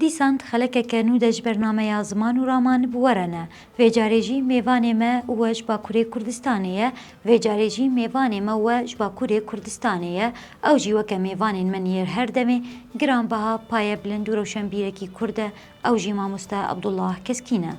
Dîsand xelekeke nû de ji ber nameya ziman û raman bi we re ne. Vê carê jî mêvanê me û we ji Bakurê Kurdistanê ye, vê carê jî mêvanê me û we ji Bakurê Kurdistanê ye, ew jî weke mêvanên min yê her demê, giranbeha, payebilind û rewşenbîrekî Kurd e, ew jî mamoste Abdullah Keskîn e.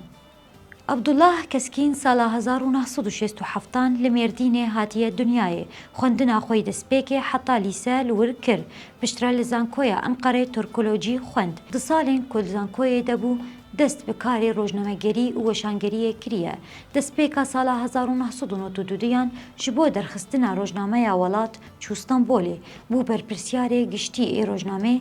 Abdullah Keskîn sala hezar û neh sed û şêst û heft an li Mêrdînê hatiye dinyayê. Xwendina xwe yî destpêkê heta lîse li wir kir. Piştre li Zankoya Enqerê Turkolojî xwend. Di salên ku li zankoyê de bû dest bi karê rojnamegerî û weşangeriyê kiriye. Destpêka sala hezar û neh sed û nod û duduyan ji bo derxistina rojnameya Welat Çû Stenbolê bû berpirsyarê giştî ê rojnamê,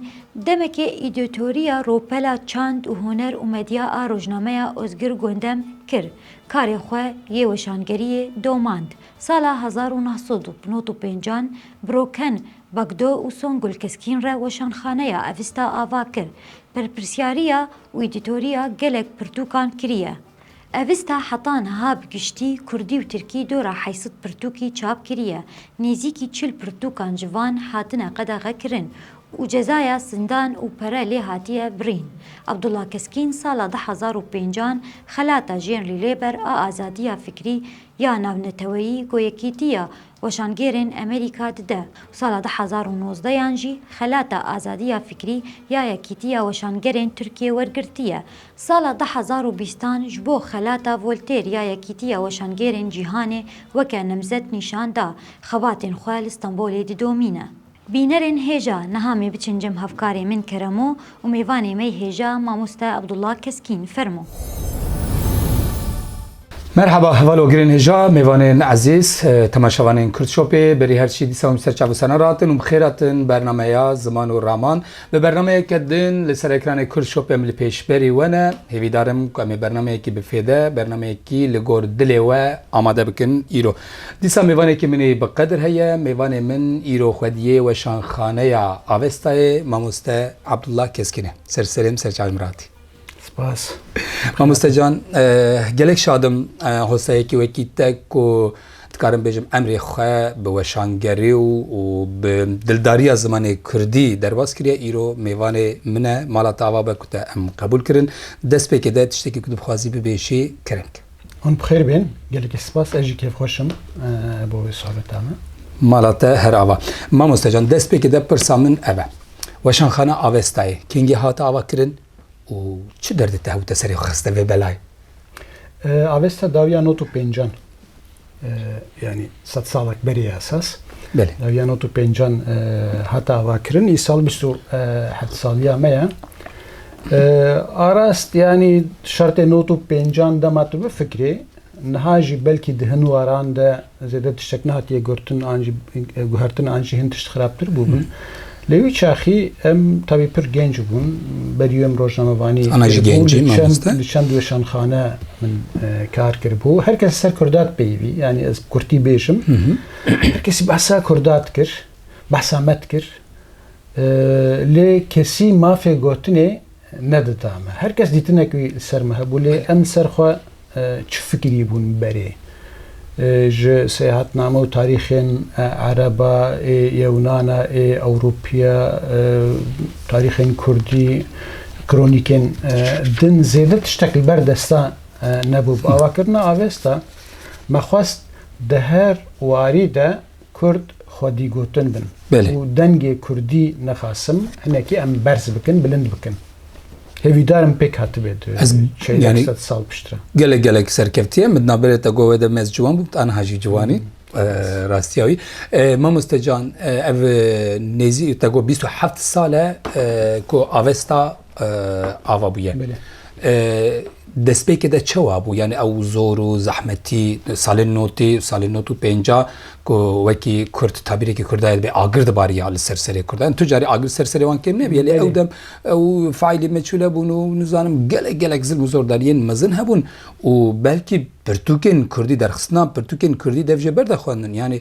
demekê îdîtorîya Ropela Çand û Huner û Medya a rojnameya Ozgir Gondem kir, karê xwe yê weşangerîyê domand, sala hezar û neh sed û nod û pêncan bi Roken Bagdo û Songul Keskin re weşanxaneya Avista ava kir, berpirsyarîya û îdîtorîya gelek pirtûkan kirîye. Avista heta niha bi giştî kurdî û tirkî dora heysid pirtûkî çap kiriye, nêzîkî çil pirtûkan ji van hatine qedexekirin û cezaya zindan û pere lê hatiye birîn. Abdullah Keskîn sala du hezar û pênc an xelata jênrî lê ber a azadiya fikrî ya navneteweyî, goyekîtî ya Weşangêrên Amerîka di de û sala du hezar û nozdeh yan jî xelata azadiya fikrî ya Yekîtiya Weşangerên Tirkiyê wergirtiye. Sala du hezar û bîst an ji bo xelata Voltêr ya Yekîtiya Weşangêrên Cîhanê weke nemzet nîşan da, xebatên xwe li Stenbolê didomîne. Bînerên hêja niha mê biçin cem hevkarê min Keremo û mêvanê mey hêja Mamoste Abdullah Keskîn. Fermo. Merhaba hevalo girên hêja mêvanên ezîz temaşevanên Kurd Shopê berî her çî dîsa hûn ser çav û sena re hatin û bi xêr hatin bernameya Ziman û Raman bi bernameyeke din li ser ekranê Kurd Shopê em li pêş berî we ne hêvîdarim ku em ê bernameyekî bi fêde bernameyekî li gor dilê we amade bikin îro Dîsa mêvanekî min ê bi qedir heye. Mêvanê min îro xwediyê Weşanxaneya Avestayê Mamoste Abdullah Keskin e. Ser Selim Serçal Miratî. Spas. Mamoste Can, gelek şadim hoseyekî wekî te ku dikarim bêjim emrê xwe bi weşangerî û û bi dildariya zimanê kurdî derbas kiriye îro mêvanê min e mala te ava be ku te em qebûl kirin destpêkê de tiştekî ku dibixwazî bibêjî kirink Hûn bi xêr bên. Gelekî spas. Ez jî kêfxweş im bo vê sohbeta me. Mala te her ava. Mamostecan, destpêkê de pirsa min ev e. Weşanxana Avestayê kengî hate avakirin û çi derdê te hewte serê xwe xiste vê belayê? Avesta dawiya not û pêncan. Yanî sed salek berê esas dawiya not û pêncan hat avakirin. Îsal bîst û heft saliya me ye. Arast yanî şertê not û pêncan dema tu bifikirî niha jî belkî di hin waran de zêde tiştek nehatiye gurtin an jî guhertin an jî hin tişt xerabtir bûbin. Li wî çaxî em tabî pir genc bûn. Berî em rojnamevanî kiribû, li çend weşanxane min kar kiribû. Her kes ser kurdat peyivî, yanî ez bi kurtî bêjim. Her kesî behsa kurdat kir, behsa me dikir. Lê kesî mafê gotinê. Ne dita me. Her kes dîtinek wî li ser me hebû lê em li ser xwe çi fikirî bûn berê? Ji seyahatname û tarîxên Ereb a, ê Yewnan a, ê Ewropî a, tarîxên Kurdî, kronîkên din zêde tiştek li ber desta nebû. Bi avakirina avesta me xwest di her warî de Kurd xwedîgotin bin û dengê Kurdî nixasim hinekî em berz bikin, bilind bikin. Hêvîdar im pêk hatibê di çeyek sed sal piştre. Gelek gelek serkevtiye min naberê te govê de mez ciwan bû anha jî ciwanî rastiya wî. Mamoste can ev nêzî te got bîst û heft sal e ku avesta ava bûye. Destpêkê de çewa bû? Yani ew zor û zehmetî salên notî, salên not û pênca ku wekî Kurd tabîrekî Kurdayê dibê agir dibariya li ser serê Kurdan. Tu carî agir ser serê wan kêm nebûye lê ew dem ew faîlî meçûl hebûn û nizanim gelek gelek zilm û zordariyên mezin hebûn û belkî pirtûkên Kurdî derxistina pirtûkên Kurdî dev jê berde xwendin. Yani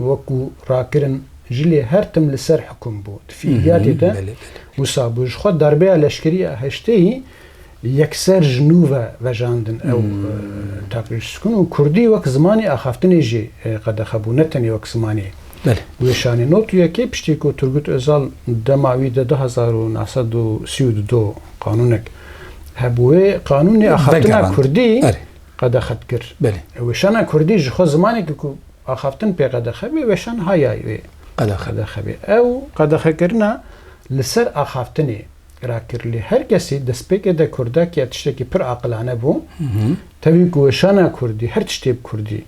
wekû rakirin ji lê her tim li ser hikum bû di fikriyatê de wisa bû ji xwe darbeya leşkerî ya heşteyî yekser ji nû ve vejandin ew taprêjskun û kurdî wek zimanê axaftinê jî qedexe bû ne tenê wek zimanê weşanê. Not û yekê piştî ku Turgut Ozal dema wî de du hezar û neh sed û sî û du do qanûnek hebû wê qanûnê axaftina kurdî Qedexe dikir. Belê. Weşana kurdî ji xwe zimanekî ku axaftin pê qedexe bê weşan hayayê wê qedexe bê. Ew qedexekirina li ser axaftinê ra kir lê her kesî destpêkê de kurdak ya tiştekî pir aqilane bû. Tevî ku weşana kurdî her tiştê bi kurdî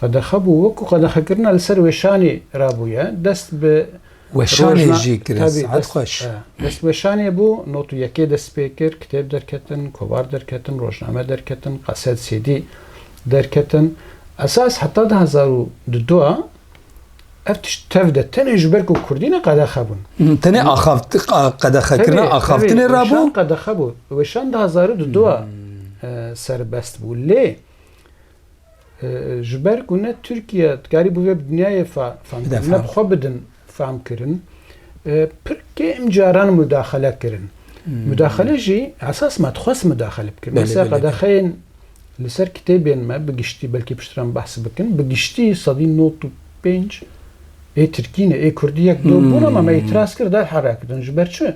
qedexe bû wek ku qedexekirina li ser weşanê ra bûye dest bi Weşanê jî kirin sihet xweş. Destweşanê bû not û yekê dest pê kir, kitêb derketin, kovar derketin, rojname derketin, qeset, CD, derketin. Esas heta di hezar û du du a ev tişt tev de tenê ji ber ku kurdî ne qedexe bûn. Tenê axaft qedexekirina axaftinê re bû? Weşan qedexe bû. Weşan di hezar û du du a serbest bû lê, Ji ber ku ne Tirkiye dikarî bi vê bi dinyayê fehmkirin, ne bi xwe bidin fehmkirin, pir kêm caran mudaxele kirin. Mudaxele jî esas me dixwest mudaxele bikin. Mesela qedexeyên li ser kitêbên me bi giştî belkî piştre em behs bikin, bi giştî sedî nod û pênc ê Tirkî ne, ê Kurdî yek do bûn ama me îtiraz kir derheqe kirin. Ji ber çi?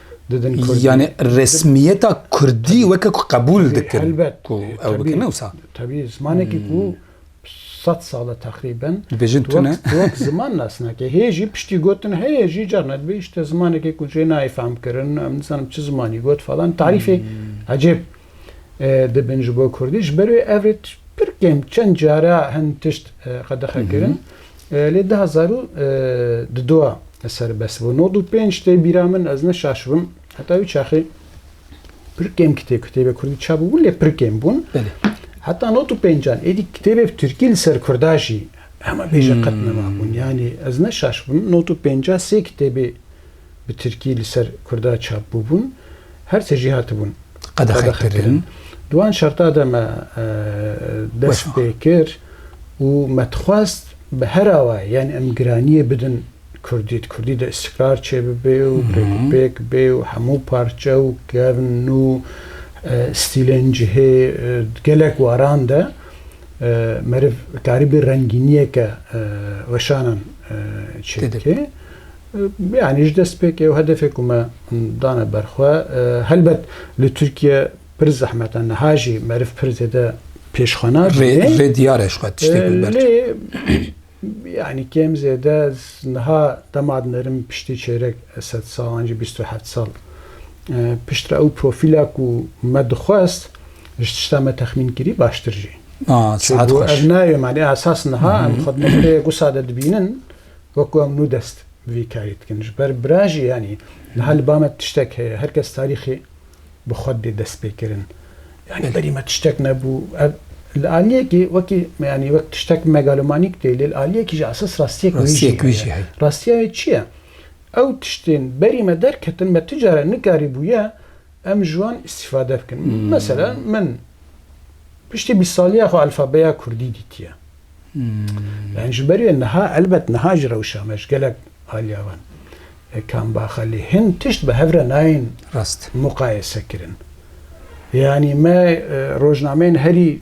Yani resmiyeta Kurdî weke ku qebûl dikin ku ew bikin wisa. Tebî zimanekî ku sed sal e teqrîben dibêjin tu ne wek ziman nas nake. Hê jî piştî gotin heye jî carna dibê îşte zimanekê ku jê nayê fehmkirin em nizanim çi zimanî got falan tarîfê ecêb. dibin ji bo Kurdî. Ji ber wê ev rê pir kêm çend cara hin tişt qedexe kirin. Lê di hezar û di du a serbest bû. Nod û pênc tê bîra min ez ne şaşibim. Heta wî çaxê pir kêm kitê kitêbê Kurdî çap bûbûn lê pir kêm bûn. Heta nod û pêncan êdî kitêbê bi Tirkî li ser Kurda jî hema bêje qet nema bûn. Yanî ez ne şaşibim nod û pênca sê kitêbê bi tirkî li ser kurda çap bûbûn, her sê jî hatibûn qedexekirin. Di wan şerta de me dest pê kir û me dixwest bi her awayê yanî em giraniyê bidin kurdî, di kurdî de îstîkrar çêbibê û pêk û pêk bê û hemû parçe û kevn û stîlên cihê di gelek waran de meriv karî bê rengîniyeke weşanan çêbike. Yanî ji destpêkê ew hedefê ku me dane ber xwe. Helbet li Tirkiye pir zehmet e, niha jî meriv pir zêde pêşxana dide. Vê diyar e ji xwe tiştê ku ber. Lê yanî kêm zêde niha dema dinerim piştî çêrek sed sal an jî bîst û heft sal piştre ew profîla ku me dixwest ji tişta me texmîn kirî baştir jî. Çêbû ev nayê manî esas niha em xwe di nokteyek wisa de dibînin. Wekû em nû dest bi vî karî dikin. Ji ber bira jî yanî niha li ba me tiştek heye. Her kes tarîxê bi xwe didê destpêkirin. Yanî berî me tiştek nebû. Ev li aliyekî wekî yanî wek tiştek megalomanîk tê lê li aliyekî jî esas rastiyek wî jî heye. Rastiya wê çi ye? Ew tiştên berî me derketin me ti care nikarîbûye Em ji wan îstîfade bikin. Mesela min piştî bîst saliya xwe alfabeya kurdî dîtiye. Yani ji ber wê niha elbet niha ji rewşa me ji gelek aliya wan e kambaxa lê hin tişt bi hev re nayên muqayese kirin. Yani me rojnameyên herî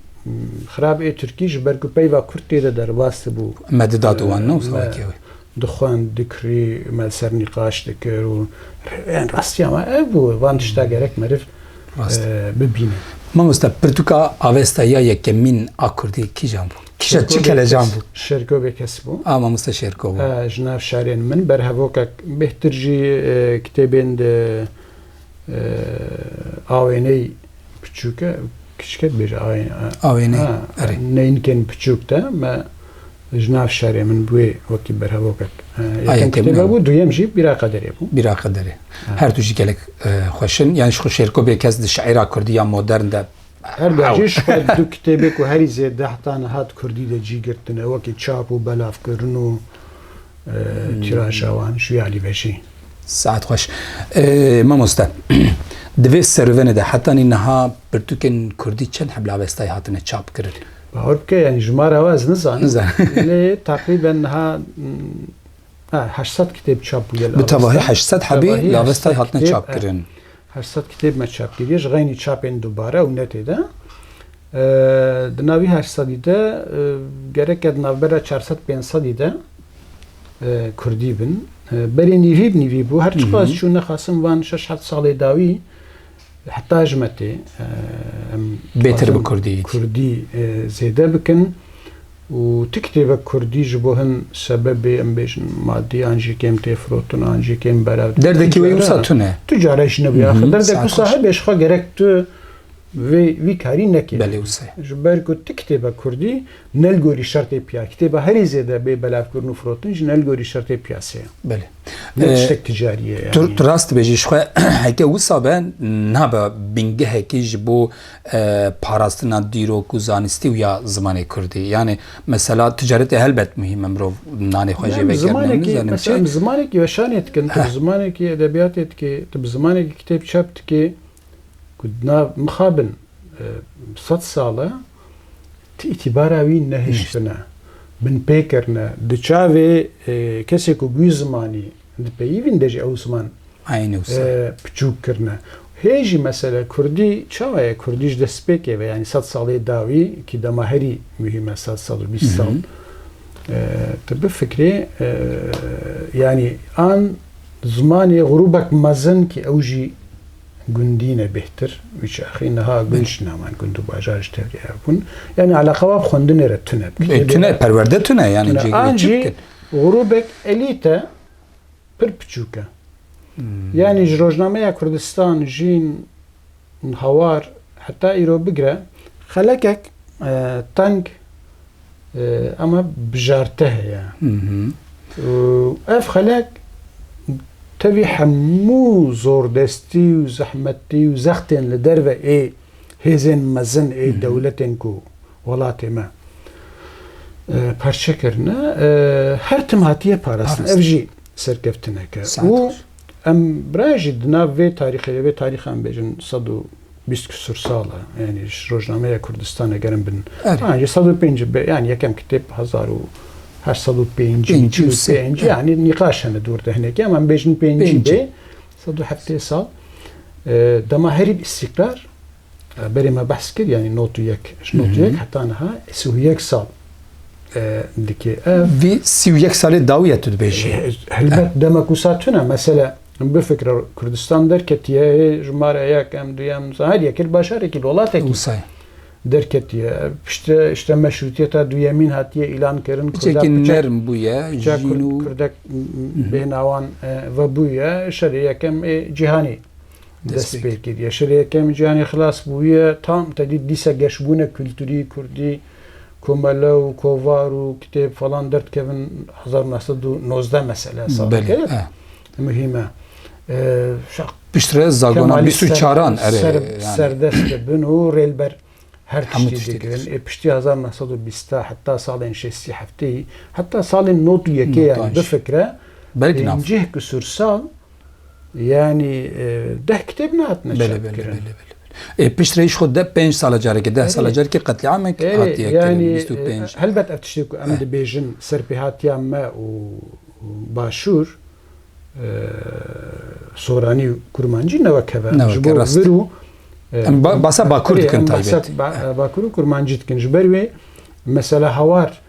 xirab ê Tirkî ji ber ku peyva kurd tê de derbas dibû. Me dida di wan ne wisa wekî ew e. Dixwend, dikurî, me li ser nîqaş dikir û yan rastiya me ev bû, van tişta gerek meriv bibîne. Mamosta pirtûka Avesta ya yekemîn a Kurdî kîjan bû? Kîja çi kelecan bû? Şêrgo Bêkes bû. A mamosta Şêrgo bû. Ji nav şarên min ber hevokek bêhtir jî kitêbên di Awêney piçûk e, kiçik e dibêje awêney. Neynikên piçûk de me ji nav şerê min bûê wekî berhevokek. Yekem kitêbe bû, duyem jî bîra qederê bû. Bîra qederê. Her tu jî gelek xweşin. Yani ji xwe şêrko bê kes di şeira kurdî ya modern de Her dem jî ji xwe du kitêbê ku herî zêde heta niha di kurdî de cî girtine wekî çap û belavkirin û tîraja wan ji wî alî vejî. Saet xweş. Mamoste, di vê serûvenê de hetanî niha pirtûkên kurdî çend hebla westayî hatine çapkirin? Bawer bike yanî ji mara we ez nizanim. Nizanim. Lê teqrîben niha heşt sed kitêb çap bûye li Avesta. Bi tevahî heşt sed hebî li Avestayê hatine çapkirin. Her sed kitêb me çap kiriye ji xeynî çapên dubare û netê de. Di nav vî her sedî de gereke di navbera çar sed pênc sedî de Kurdî bin. Berê nîvîb nîvî bû. Her çiqas mhm. çû nexasim van şeş heft salê dawî heta ji metê em bêtir bi Kurdî Kurdî zêde bikin. Û ti kitêbek kurdî ji bo hin sebebê em bêjin madî an jî kêm tê firotin an jî kêm berev tê. Derdekî wê wisa tune. Tu care jî nebûye axir. Derdek wisa hebe ji xwe gerek tu vê vî karî nekê. Belê wisa ye. Ji ber ku ti kitêbek kurdî ne li gorî şertê piya kitêba herî zêde bê belevkirin û firotin jî ne li gorî şertê piyasê ye. Belê. Ne tiştek ticarî ye yani. Tu rast dibêjî ji xwe heke wisa be nabe bingehekî ji bo parastina dîrok û zanistî û ya zimanê kurdî. Yanê mesela ticaretê helbet muhîm e mirov nanê xwe jê vegerîne nizanim çi. Em zimanekî weşanê dikin, tu bi zimanekî edebiyatê dikê, tu bi zimanekî kitêb çap dikê ku na mixabin sed sal e tu îtîbara wî nehiştine, binpêkirine di çavê kesê ku bûyî zimanî. Di peyivîn de jî ew ziman piçûk kirine. Hê jî mesele kurdî çawa ye? Kurdî ji dest pê keve. Yanî sed salê dawî kî dema herî muhîm e sed sed û bîst sal. Tu bifikirî yanî an zimanê grûbek mezin kî ew jî gundî ne bêhtir wî çaxî niha gund ji naman gund û bajar ji tevlî hev bûn. Yanî eleqewa bi xwendinê re tune bi. Tune perwerde tune yanî cî. Grûbek elîte pir piçûk e. Yanî ji rojnameya Kurdistan, Jîn, Hawar heta îro bigire xelekek teng ama bijarte heye û ev xelek tevî hemû zordestî û zehmetî û zextên li derve ê hêzên mezin ê dewletên ku Welatê me parçe kirine, her tim hatiye parastin. Ev jî serkeftinek e. Û em birayan jî di nav vê tarîxê de, vê tarîxa em bêjin sed û bîst kisur sal e. Yanî ji rojnameya Kurdistanê ger em bin. Birayan jî sed û pênc be, yanî yekem kitêb hezar û heşt sed û pêncî, çil û pênc, yanî nîqaş hene dûr de hinekî em em bêjin pêncî bê, sed û heftê sal. Dema herî bi îstîkrar Berê me behs kir yanî not û yek ji not û yek heta niha sî û yek sal dikê ev. Vî sî û yek salê dawî ye tu dibêjî. Helbet dema ku sa tune mesele bifikre Kurdistan derketiye jimare yek em du em her yekir başarekî li welatekî derketiye. Piştre işte meşrûtiyeta duyemîn hatiye îlan kirin nerm bûye kurdek bênawan vebûye şerê yekem ê cîhanî. Dest pê kiriye. Şirê yekemî cîhanê xilas bûye. Tam tedî dîsa geşbûne kulturî, kurdî, komele û kovar û kitêb falan derdikevin hezar û neh sed û nozdeh mesele hesab dike. Muhîm e. Piştre zagona bîst û çaran erê serdest dibin û rêlber her tiştî dikirin. Ê piştî hezar û neh sed û bîst heta salên şêstî heftî heta salên nod û yekê yanî bifikre pêncîh kisûr sal Yani e, deh kitêb ne hatine Belê, belê, belê, belê. E, pişt reyiş xwe de pênc sala carekê, deh sala carekê qetlîamek hatiye yani, bîst û pênc. E, helbet ev tiştê ku em eh. dibêjin serpêhatiya me û başûr e, soranî û kurmancî ne wek heve. Ji bo vir û em basa bakur dikin taybet. Bakur û kurmancî dikin. Ji ber wê mesela hawar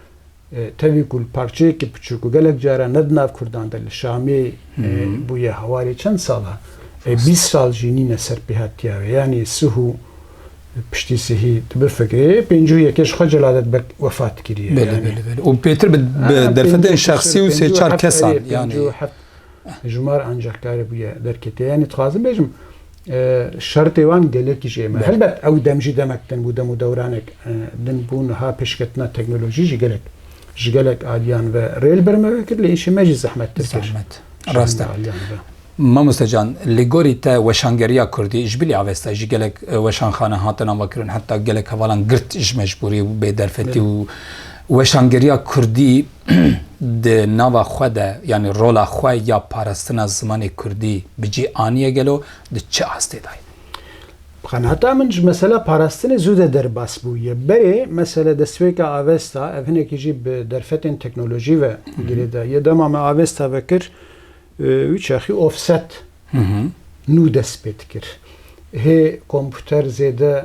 Tevî ku li parçeyekî piçûk û gelek caran ne di nav kurdan de li Şamê bûye hewarê çend salan e bîst sal jî nîne ser pêhatiya wê yanî sihû piştî sihî tu bifikirî pêncî û yekê ji xwe celadet bek wefat kiriye. Belê belê belê û pêtir bi derfetên şexsî û sê çar kesan yanî ji mar ancehkarê bûye derketiye yanî dixwazim bêjim Şertê wan gelekî jê me. Helbet ew dem jî demek din bû, dem û dewranek din bû, niha pêşketina teknolojî jî gelek ji gelek aliyan ve rê li ber me ve kir, lê îşê me jî zehmettir kir. Rast e. Mamoste Can, li gorî te weşangeriya kurdî ji bilî avesta jî gelek weşanxane hatin avakirin, heta gelek hevalan girt ji mecbûrî û bêderfetî û weşangeriya kurdî, di nava xwe de yanî rola xwe ya parastina zimanê kurdî bi cî aniye gelo di çi astê de ye? Bi qenata min ji mesela parastinê zû de derbas bûye. Berê mesela destpêka Avesta ev hinekî jî bi derfetên teknolojî ve girê de ye. Dema me Avesta vekir wî çaxî offset nû dest pê dikir. Hê komputer zêde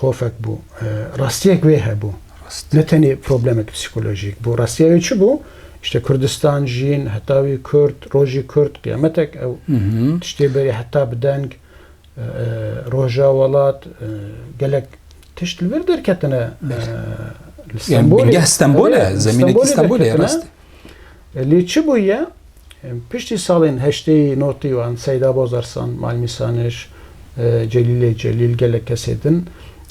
xofek bû. Rastiyek wê hebû. Ne tenê problemek psîkolojîk bû. Rastiya wê çi bû? İşte Kurdistan, jîn, heta wî Kurd, rojî Kurd, qiyametek ew tiştê berê heta bi deng roja welat gelek tişt li vir derketine. Li Stenbolê. Bingeh Stenbol e, zemînekî Stenbolê e. Lê çi bûye? Piştî salên heşteyî notî wan Seyda Bozarsan, Malmî Saniş, Celîlê Celîl gelek kesê din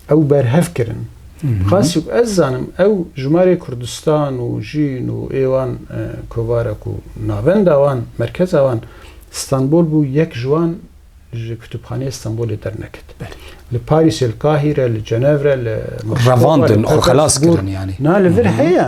ew berhev kirin. Qasî ku ez zanim ew ji malê Kurdistan û jîn û ê wan kovara ku navenda wan, merkeza wan Stenbol bû yek ji wan ji Kitûbxaneyê Stenbolê derneket. Li Parîsê, li Kahîre, li Cenevre, li Revandin û xelas kirin yanî. Na li vir heye.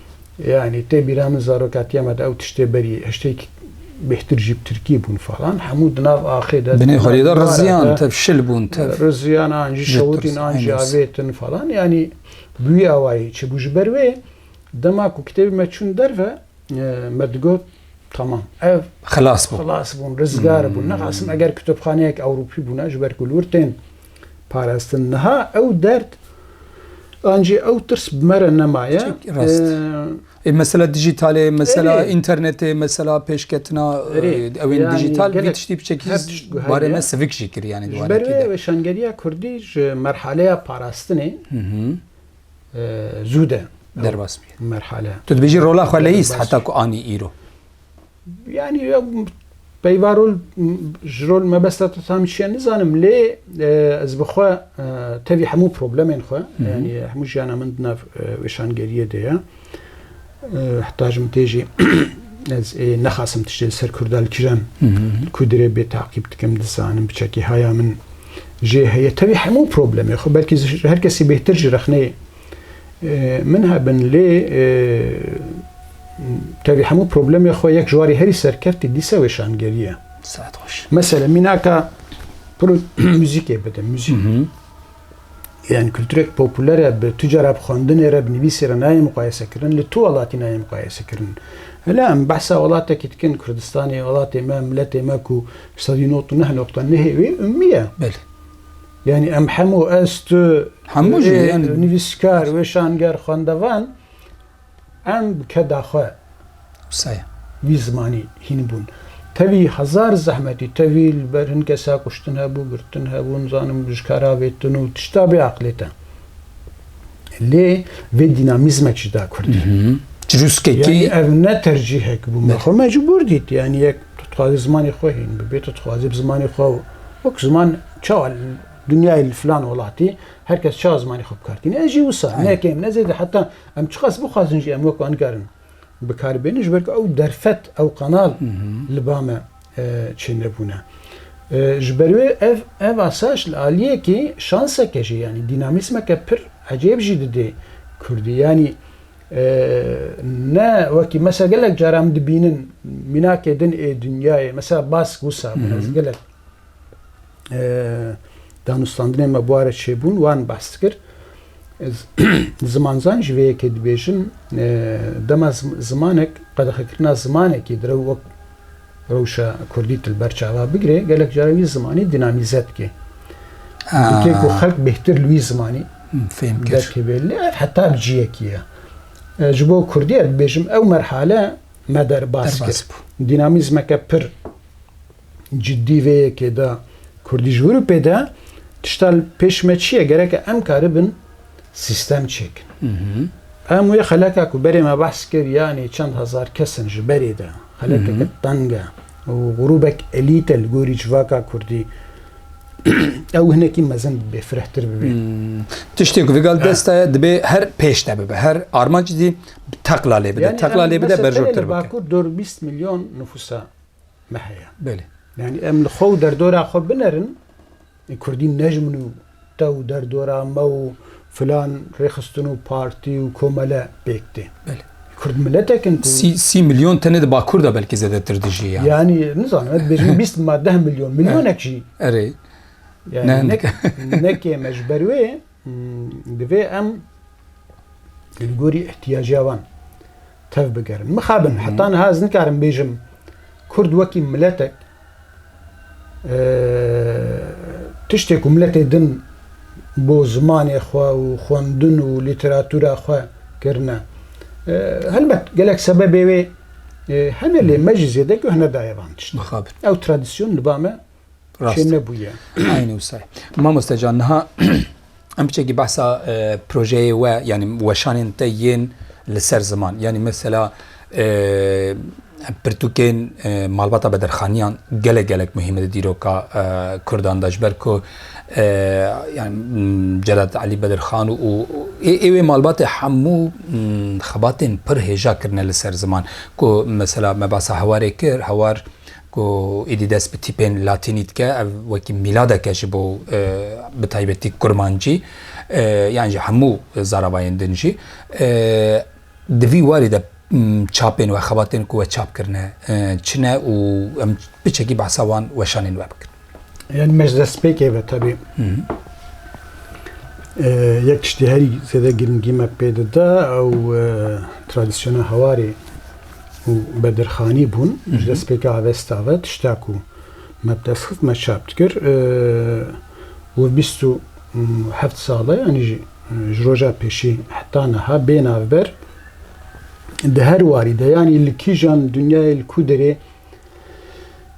Yanî tê bîra min zarokatiya me de ew tiştê berî hiştêk bêhtir jî bi tirkî bûn falan hemû di nav axê de Binê xwedî de riziyan tev şil bûn tev. Riziyan an jî şewitîn an jî avêtin falan yanî bi wî awayî çibû ji ber wê dema ku kitêbê me çûn derve me digot Tamam. Ev xilas bûn. Xilas bûn, rizgar bûn. Nexasim eger kutubxaneyek Ewropî bûna ji ber ku li wir tên parastin. Niha ew derd an jî ew tirs bi me re nemaye. Rast. Ê mesela dijîtalê, mesela Erê. înternetê, mesela pêşketina Erê. e, ewên Yani dijîtal gelek vî tiştî biçekî her tişt guherî barê ye. me sivik jî kir yani di Ji ber wanekî wê de. weşangeriya Kurdî ji merhaleya parastinê e, zû de ew Derbas bî. merhale. Tu dibêjî rola xwe leyîst Derbas heta bî. ku anî îro. Yani peyva rol ji rol mebesta te tam çiye nizanim lê ez bi xwe tevî hemû problemên xwe yanî hemû jiyana min di nav weşangeriyê de ye heta ji min tê jî ez ê nexasim tiştê li ser Kurda li kijan ku dirê bê taqîb dikim dizanim bi çekî haya min jê heye tevî hemû problemê xwe belkî ji her kesî bêhtir ji rexneyê Min hebin lê tevî hemû problemê xwe yek ji warî herî serkevtî dîse wê şangerî ye. Mesela mînaka müzikê bide müzik. Yani kültürek popülere bi tücara bi xwendinê re bi nivîsê re nayê muqayese kirin li tu welatî nayê muqayese kirin. Hele em behsa welatekî dikin Kurdistanê welatê me miletê me ku sedî not û neh noqta nehê wê ummiye. Belê. Yanî em hemû ez, tu, Hemû jî, ê yanî- nivîskar, wêşanger, xwendevan em bi keda xwe Wisa ye. vî zimanî hîn bûn. Tevî hezar zehmetî, tevî li ber hin kesa kuştin hebû, girtin hebû, nizanim ji kara vêtin û tişta bê aqilê te. Lê vê dînamîzmek jî da Kurdî. Çirûskekî Yanî ev ne tercîhek bû. Me xwe mecbûr dît. Yanî yek tu dixwazî zimanê xwe hîn bibê, tu dixwazî bi zimanê xwe wek ziman Çawa li dinyayê li filan welatî her kes çawa zimanê xwe bikar tîne. Ez jî wisa ne kêm ne zêde heta em çiqas bixwazin jî em wek wan nikarin bikaribênin ji ber ku ew derfet ew qanal li ba me e, çênebûne. E, ji ber wê ev ev asayiş li aliyekî şanseke jî yanî dînamîsmeke pir ecêb jî didê Kurdî. Yanî e, ne wekî mesela gelek caran dibînin mînakê din ê dinyayê mesela bask wisa bûne ez gelek danûstandinên me bûare çêbûn wan behs dikir. Zimanzan ji vê yekê dibêjin dema zimanek qedexekirina zimanekî di rew wek rewşa Kurdî tu li ber çava bigirê gelek cara wî zimanî dînamîze dike. Gotê ku xelk bêhtir li wî zimanî fêm derkeve lê ev heta bi ciyekî ye. Ji bo Kurdî ez dibêjim ew merhale me derbas kir. Dînamîzmeke pir cidî vê yekê de kurdî ji Ewropê de tişta li pêş me çi ye? Gereke em karibin sîstem çêkin. Em wê xeleka ku berê me behs kir yanê çend hezar kesin ji berê de xelekeke teng e û grûbek elît e li gorî civaka kurdî ew hinekî mezin bibê, firehtir bibê. Hmm. Tiştê ku vigal desta ye dibê her pêş de bibe. Her armanc dî teqla lê bide. Teqla lê bide berjortir bibe. Bakur 420 milyon nüfusa me heye. Belê. Yani em li xwe û derdora xwe binerin, e, Kurdî nejmin û te û derdora me û filan rêxistin û partî û komele pêk tê. Belê. Kurd miletekin ku Sî sî milyon tenê di Bakur de belkî zedetir dijî ya. yani nizanim ez bêjim 20 ma 10 milyon milyonek jî. Erê. Yani Nek. nek nekê me ji ber wê Divê em li gorî îhtîyaca wan tev bigerin. Mixabin heta niha ez nikarim bêjim Kurd wekî miletek tiştê ku miletê din bo zimanê xwe û xwendin û lîteratûra xwe kirine. Helbet gelek sebebê wê hene lê me jî zêde guh nedaye van tiştan. Ew tradisyon li ba me Rast. Şê nebûye. Aynê wisa. Mamoste can niha em biçekî behsa projeyê we yanî weşanên te yên li ser ziman yanî mesela pirtûkên malbata bedirxaniyan gelek gelek muhîme di dîroka Kurdan de ji ber ku Celat Elî Bedirxan û ê wê malbatê hemû xebatên pir hêja kirine li ser ziman ku mesela me behsa hewarê kir hewar Ku êdî dest bi tîpên latînî dike, ev wekî mîladek e ji bo bi taybetî kurmancî yan ji hemû zaravayên din jî. Di vî warî de çapên we, xebatên ku we çap kirine çi ne û em bi çekî behsa wan weşanên we bikin. Yani meclespêkê ve tabi yek tiştê herî zêde girîngî me pê dide ew tradisyona hewarê û bedirxanî bûn ji destpêka avesta ve tişta ku me bi dest xist me çap dikir û bîst û heft sal e yanî ji roja pêşî heta niha bê navber di her warî de yanî li kîjan dinyayê li ku derê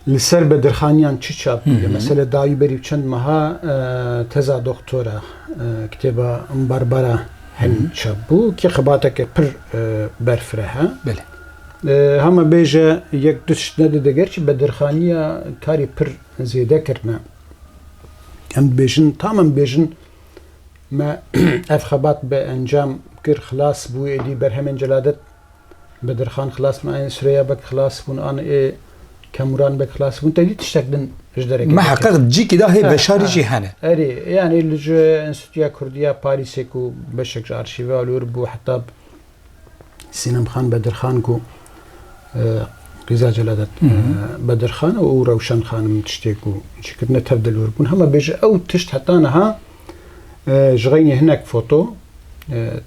Li ser bedirxaniyan çi çap bûye? Mesele dayî berî çend meha teza doktora kitêba Barbara Henî çap bû ki xebateke pir berfireh e. Belê. Hama bêje yek du tişt nedide gerçî bedirxaniya karî pir zêde kirine. Em dibêjin tam em dibêjin me ev xebat bi encam kir xilas bû êdî berhemên celadet Bedirxan xilas bûn, anê Sureyya Beg xilas bûn, anê Kemuran Beg xilas bûn, tevlî tiştek din ji derekê. Me heqeq cîkî da hê beşarî jî hene. Erê, yanî li ji Enstîtuya Kurdî ya Parîsê ku beşek ji arşîvê alor bû heta Sînemxan Bedirxan ku qîza Celadet Bedirxan û Rewşen Xanim tiştê ku çêkirine tev de lor bûn. Hema bêje ew tişt heta niha Ji xeynî hinek foto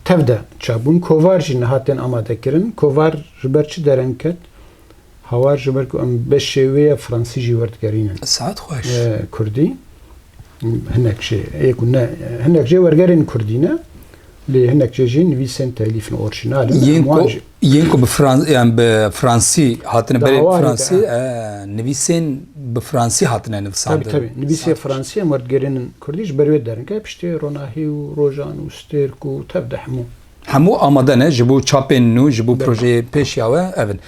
tev de çapbûn. Kovar jî niha tên amadekirin. Kovar ji ber çi dereng ket? Hawar ji ber ku em beşê wê ya Fransî jî werdigerînin. Saet xweş. Kurdî hinek jê yê ku ne hinek jê wergerên Kurdî ne. Lê hinek jê jî nivîsên telîf in, orjînal in. Yên ku yên ku bi Frans yan bi Fransî hatine berê bi Fransî nivîsên bi Fransî hatine nivisandin. Tabii tabii. Nivîsê Fransî em werdigerên in Kurdî ji ber wê derin ke piştê ronahî û rojan û stêrk û tev de hemû. Hemû amade ne ji bo çapên nû ji bo projeyê pêş ya we ev in.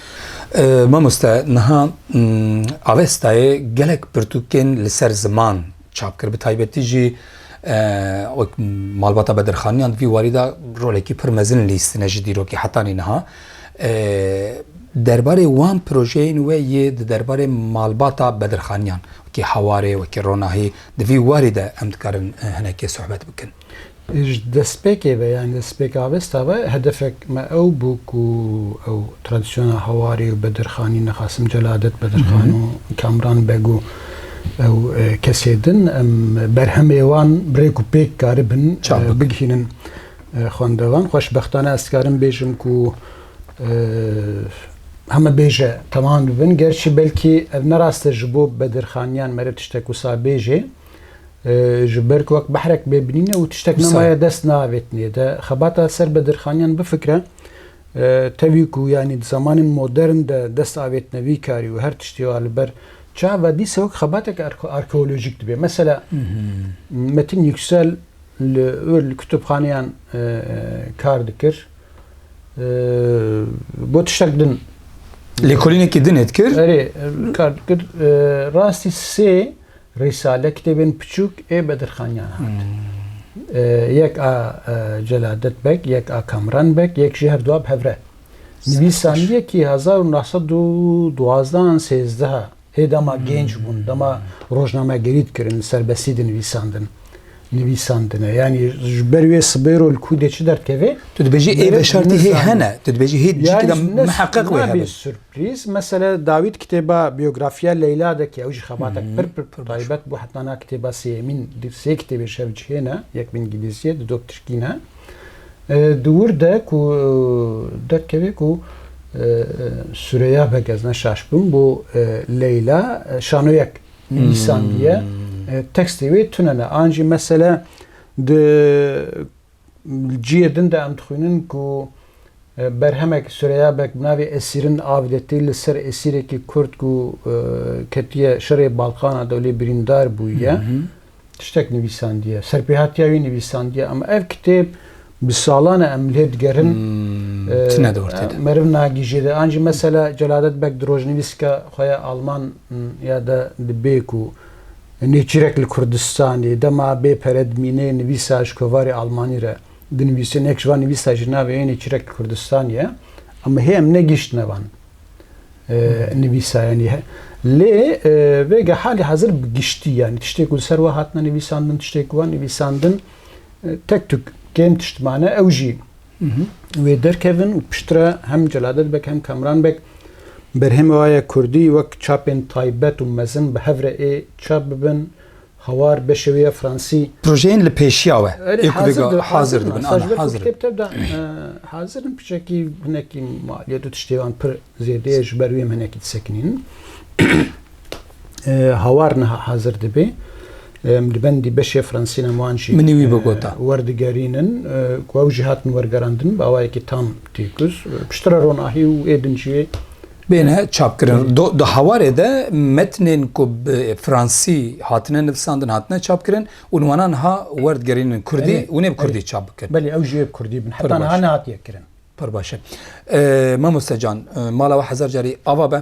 Mamoste niha Avestayê gelek pirtûkên li ser ziman çap kir. Bi taybetî jî wek malbata bedirxaniyan di vî warî de rolekî pir mezin lîstine ji dîrokî hetanî niha. Derbarê wan projeyên we yê di derbarê malbata bedirxaniyan wekî hewarê, wekî ronahî di vî warî de em dikarin hinekê sohbet bikin. Ji destpêkê ve yanî destpêka avesta ve hedefek me ew bû ku ew tradisyona Hewarê û Bedirxanî ne Qasim Celadet Bedirxan û Kamran Beg û ew kesê din em berhemê wan bi rêk û pêk karibin bigihînin xwendevan. Xweşbextane ez dikarim bêjim ku heme bêje temam dibin. Gerçî belkî ev ne rast e ji bo Bedirxaniyan mere tiştek wisa bêjê. Ji ber ku wek behrek bê binîne û tiştek nemaye dest naavêtinê. De xebata ser bi dirxaniyan bifikre. Tevî ku yanî di zamanên modern de dest avêtine vî karî û her tiştî wa li ber çav ve dîsa wek xebatek arkeolojîk dibe. Mesela Metin Yüksel li wir li kutubxaneyan kar dikir. Got tiştek din Lêkolînekî dinê dikir. Erê kar dikir. Rastî sê Risale kitêbên piçûk ê Bedirxaniyan hat. Yek a Celadet Beg, yek a Kamran Beg, yek jî herdu a bi hevre. Nivîsan yekî hezar û neh sed û duwazdeh an sêzdeh a. Ê dema gênc bûn, dema rojnamegerî dikirin, li serbestî dinivîsandin, nivîsandine. Yanî ji ber wê sibêro li kûdê çi derdikeve? Tu dibêjî ê veşartî hê hene. Tu dibêjî hê cî ke de miheqeq wê hebe. Rîz, Mesele Dawît kitêba biyografiya Leyla de ke ew jî xebatek pir pir taybet bû heta na kitêba sêyemîn di sê kitêbê şevcihê ne yek bi îngîlîzî di do bi tirkî ne di wir de ku derkeve ku Sureya Beg ez ne şaş bûm bo Leyla şanoyek nivîsandiye tekstê wê tune ne an jî mesele di Li cihê din de em dixwînin ku berhemek Sureyabek bi navê Esîrin av de tê li ser esîrekî Kurd ku ketiye şerê Balkana de û lê birîndar bûye tiştek nivîsandiye. Serpêhatiya wî nivîsandiye. Em ev kitêb bi salan e em lê digerin. Tune dor tê de. Meriv nagîjê de. An jî mesela Celadet Beg di rojnivîsika xwe ya Alman ya de dibê ku Nêçîrek li Kurdistanê dema bê pere dimîne nivîsa ji kovarê almanî re dinivîsin. Yek ji van nivîsa jî navê yê Nêçîrek li Kurdistanê ye. Em hê em negihîştine van nivîsayanî. Lê vêga halê hezir bi giştî yanî tiştê ku li ser we hatine nivîsandin, tiştê ku wan nivîsandin tek tuk kêm tişt mane. Ew jî Wê derkevin û piştre hem Celadet Beg hem Kamran Beg berhemê wa ye kurdî wek çapên taybet û mezin bi hev re ê çap bibin, hawar beşê wê ye fransî. Projeyên li pêşiya we ê ku bêga hazir dibin. Ana, hazir in. Kitêb tevda hazir in, piçekî hinekî maliyet û tiştê wan pir zêde ye, ji ber wê em hinekî disekinînin. hawar niha hazir dibê. Em li bendî beşê fransînan wan jî Minî wî bigota. werdigerînin ku ew jî hatin wergerandin bi awayekî tam têkuz. Piştre ronahî û êdin jî Bêne çapkirin. Do di hawarê de metnên ku bi fransî hatine nivisandin hatine çapkirin û li wana niha werdigerînin kurdî Belê, û nê bi kurdî belê. çap bikin. Belê ew jî yê bi kurdî bin. Pir Heta niha baş. nehatiye kirin. Pir baş e. Mamoste can, mala we hezar carî ava be.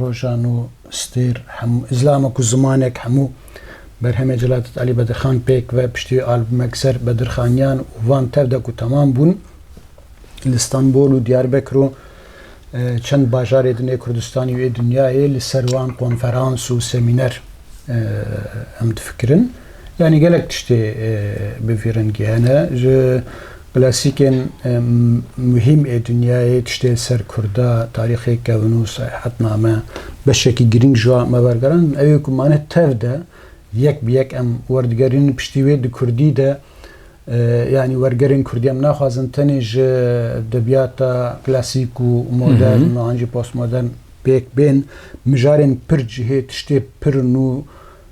Rojan û stêr hemû îzlam e ku zimanek hemû berhemê Celadet Elî Bedirxan pêk ve piştî wê albumek ser Bedirxaniyan û van tev de ku temam bûn li Stenbol û Diyarbekir û çend bajarê din ê Kurdistanê û ê dinyayê li ser wan konferans û semîner em difikirin. Yanî gelek tiştê bi vî rengî hene. Ji Klasikên muhîm ê dinyayê tiştê li ser Kurda, tarîxê kevnû, seyahatname, beşekî girîng ji wan me wergeran in. Ew ê ku mane tev de yek bi yek em werdigerînin piştî wê di Kurdî de yanî wergerên Kurdî em naxwazin tenê ji edebiyata klasîk û modern û an jî postmodern pêk bên. Mijarên pir cihê tiştê pir nû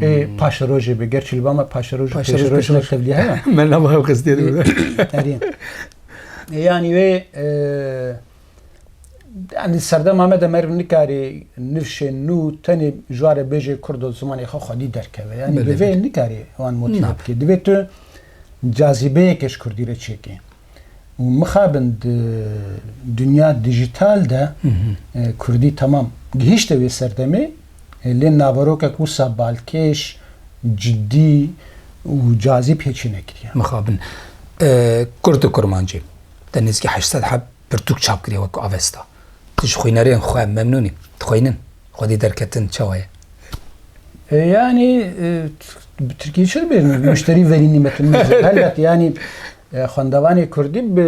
ê paşerojê bi ger çilba me paşeroj paşeroj ne tevliye heye me ne bayo qizdiye de erê yani wê yani serdem Ahmet Emer nikari nivşê nû tenê jware bêjê kurdo zimanê xwe xwedî derkeve yani divê nikari wan motif bikê divê tu cazîbeyekê ji kurdî re çêkê û mixabin di dinya dijital de kurdî temam gihîşte wê serdemê lê naverokek wisa balkêş, cidî û cazîb hê çê nekiriye. Mixabin kurd û kurmancî te nêzîkî heşt sed heb pirtûk çap kiriye wek ku Avesta. Tu ji xwînerên xwe memnûn î? Dixwînin? Xwedî derketin çawa ye? Yanî bi tirkî çi dibê? Muşterî verî nîmetin min zêde helbet yanî xwendevanê kurdî bi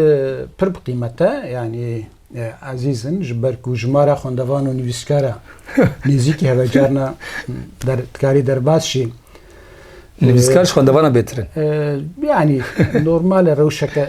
pir bi qîmet e. Yanî ezîz in ji ber ku ji ma re xwendevan û nivîskar e. Nêzîkî hebe carna dikarî derbas jî. Nivîskar ji xwendevanan bêtir in. Yanî normal e rewşeke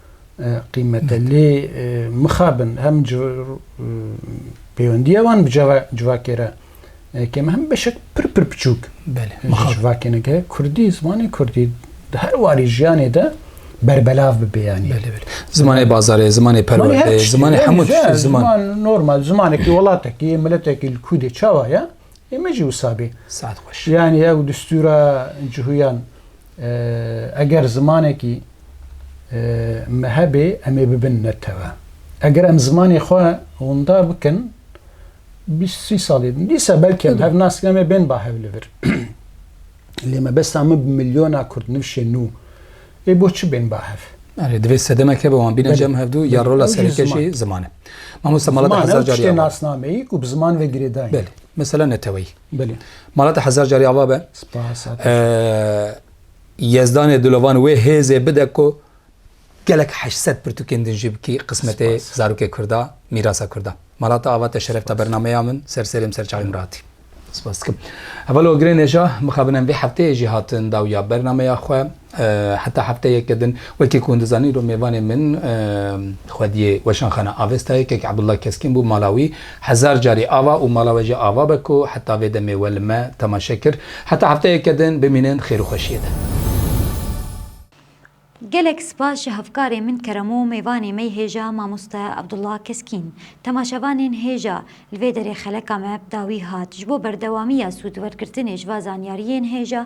qîmet e. Lê mixabin em ji pêwendiya wan bi civakê re kêm em beşek pir pir biçûk ji civakê ne ke kurdî, zimanê kurdî di her warî jiyanê de berbelav bibe yanî. Zimanê bazarê, zimanê perwerdeyê, zimanê hemû tiştê ziman. Normal zimanekî welatekî yê miletekî li kû dê çawa ye ê me jî wisa bê. Saet xweş. Yanî ew distûra cihûyan Eger zimanekî me hebe em ê bibin netewe. Eger em zimanê xwe winda bikin bîst sî salê din dîsa belkî em hev nas em ê bên ba hev li vir. Lê mebesta min bi milyona kurdnivşên nû ê bo çi bên ba hev? Erê divê sedemek hebe wan bîne cem hevdû ya rola sereke jî ziman e. Mamosta mala de hezar carî avar e. Ziman ew tiştê nasnameyî ku bi ziman ve girêdayîn e. Mesela neteweyî. Belê. Mala te hezar carî ava be. Spas a te. Yezdanê dilovan wê hêzê bide ku gelek heşt sed pirtûkên din jî bikî qismetê zarokê Kurd a, mîrasa Kurd a. Mala te ava te şeref da bernameya min, ser serê min, ser çavê min ratî. Spas dikim. Heval û girê nêja mixabin em vê hefteyê jî hatin dawîya bernameya xwe. Heta hefteyeke din, wekî ku hûn dizanîn rûmêvanê min xwediyê Weşanxana Avestayê kek Abdullah Keskin bû, mala wî hezar carî ava û mala we jî ava be ku heta vê demê we li me temaşe kir. Heta hefteyeke din bimînin xêr û xweşiyê de. Gelek spas ji hevkarê min kerem û mêvanê me hêja Mamoste Abdullah Keskin. Temaşevanên hêja, li vê derê xeleka me bi dawî hat. Ji bo berdewamiya sûdwergirtinê ji va zanyariyên hêja,